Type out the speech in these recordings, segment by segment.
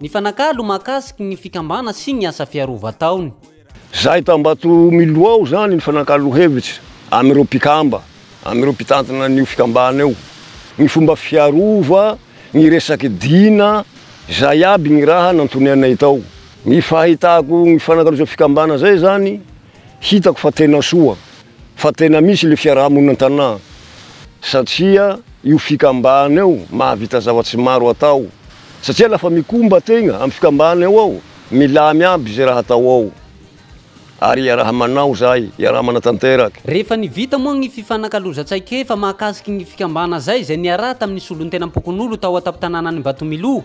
Nifanakalo mahakasiky ny fikambana sy ny asa fiarova ataony. Zahay tao Ambatomilo ao izany nifanakalo hevitra amin'ireo mpikamba, amin'ireo mpitantana an'io fikambana io, ny fomba fiarova, ny resaky dina, izay aby ny raha nantonianay tao. Ny fahitako ny fifanakalozan'ny fikambana izay izany, Hitako fa tena soa fa tena misy ilay fiaraha-monina an-tanà satria io fikambana io mahavita zava-tsy maro atao satria lafa mikomba tegna amin'ny fikambana eo ao, milamy aby zay raha atao ao ary iaraha manao zay, iaraha manatanteraky. Rehefa ny vita moa gny fifanakalozan-tsain-kefa mahakasiky gny fikambana zay, zay niaraha tamin'ny solontenam-pokonolona tao an-tampon-tanànan'Imbatomiloha,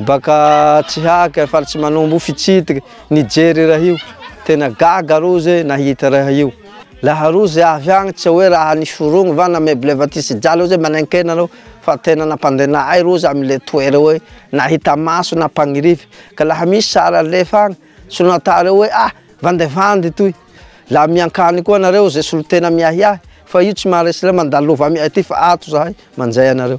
Baka tsy haka faly tsy manombo fitsidiky nijery raha io tena gaga rozy nahita raha io laha rozy avy agny tsy hoe raha niforogny va na meuble va ty sy jalo zay manenkena reo fa tena nampandena ahy rozy amy le toera hoe nahita maso na mpagnirify ka laha misy sary alefa agny tsy nata reo hoe ah vandevandy toy laha miankany koa nareo ze solotena miahiahy fa io tsy maharesy reo mandalova amy aty fa ato zahay manjay anareo.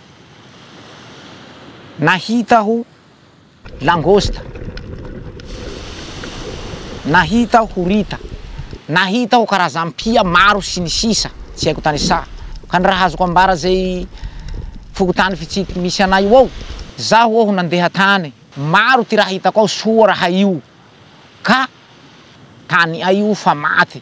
Nahita aho langosta, nahita aho horita, nahita aho karazam-pia maro sy ny sisa tsy haiko tanisaha ka ny raha azoko ambara izay fokontany fitsiky misy anay io ao zaho aho nandeha tany maro ty raha hitako ao soa raha io ka tany ay io fa maty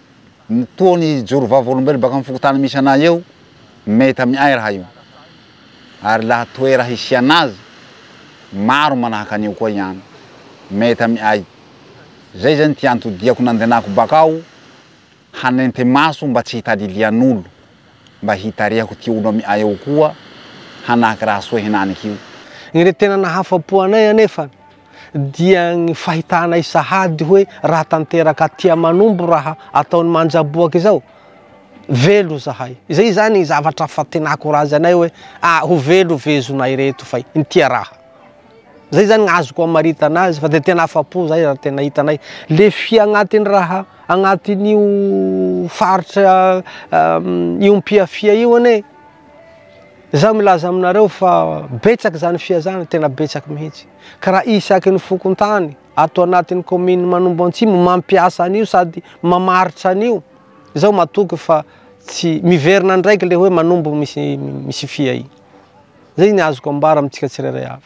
Ny toa ny joro vavolombelona baka amin'ny fokontany misy anay eo, mety amin'ny ay raha io. Ary laha toera hisiana azy, maro manahaka an'io koa ihany, mety amin'ny ay. Zay zany ty antodiako nandenako bakao hanente maso mba tsy hitadilian'olo, mba hitarihako ty olo amin'ny ay eo koa hanaky raha soa henaniky io. Ireo tena nahafapo anay anefa dia ny fahitanay sahady hoe raha tanteraka aty Amanombo raha ataon'i Manjaboaka izao, velo izahay. Izay izany ny zavatra fantenako raha azy anay hoe a ho velo ve zonay ireto fa inty raha. Izay izany ny azoko amaritana azy fa dia tena afa-po izahay raha tena hitanay le fy agnatin'ny raha agnatin'io faritra iompia fia io anie. Izaho milaza aminareo fa betsaka izany fihazana, tena betsaka mihitsy. Ka raha isaky ny fokontany ato anatin'ny kaominina Manombo Antsimo mampiasa an'io sady mamaritra an'io, izaho matoky fa tsy miverina ndraiky ilay hoe Manombo misy fia iny. Izay ny azoko ambara amintsika tsirairay avy.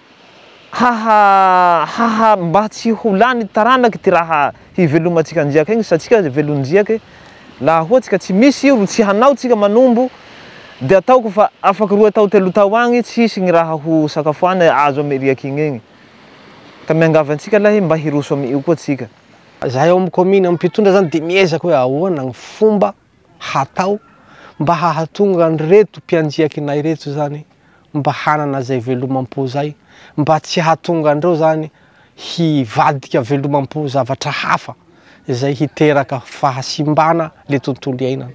Hahahaha mba tsy ho lany taranaka ity raha hivelomantsika anjiaka igny satsia aza velonjiaka e! laha hoatsika tsy misy io ro tsy hanao tsika manombo de ataoko fa afaky roe tao telo tao agny tsy hisy gny raha ho sakafoana e! azo amy riaky igny egny ka miangavy antsika lahy mba hiroso amy io koa tsika. Zahay ao am commune am mpitondra zany de miezaka hoe ahoana gny fomba hatao mba hahatonga an'ireto mpianjiaky nay ireto zany mba hanana zay velomam-po zay, mba tsy hahatonga an'ireo zany hivadika velomam-po zavatra hafa izay hiteraka fahasimbana le tontolo iainana.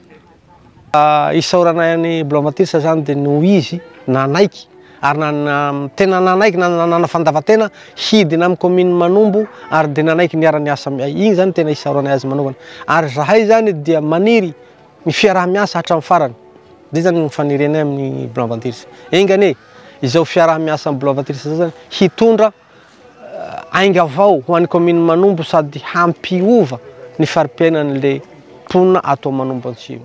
Isaoranay an'i Blomatis zany de noho izy nanaiky ary tena nanaiky nanana fandavan-tena hidina amin'ny kaominin'i Manombo ary dia nanaiky niara-niasa, iny izany tena isaoranay azy manaovana, ary izahay izany dia maniry ny fiaraha-miasa hatramin'ny farany, izay izany ny fanirianay amin'ny Blanc Ventures, enga anie izao fiaraha-miasa amin'ny Blanc Ventures izao izany hitondra ainga vao ho an'ny kaominin'i Manombo sady hampiova ny fari-piainan'ilay mponina ato Manombo Antsimo.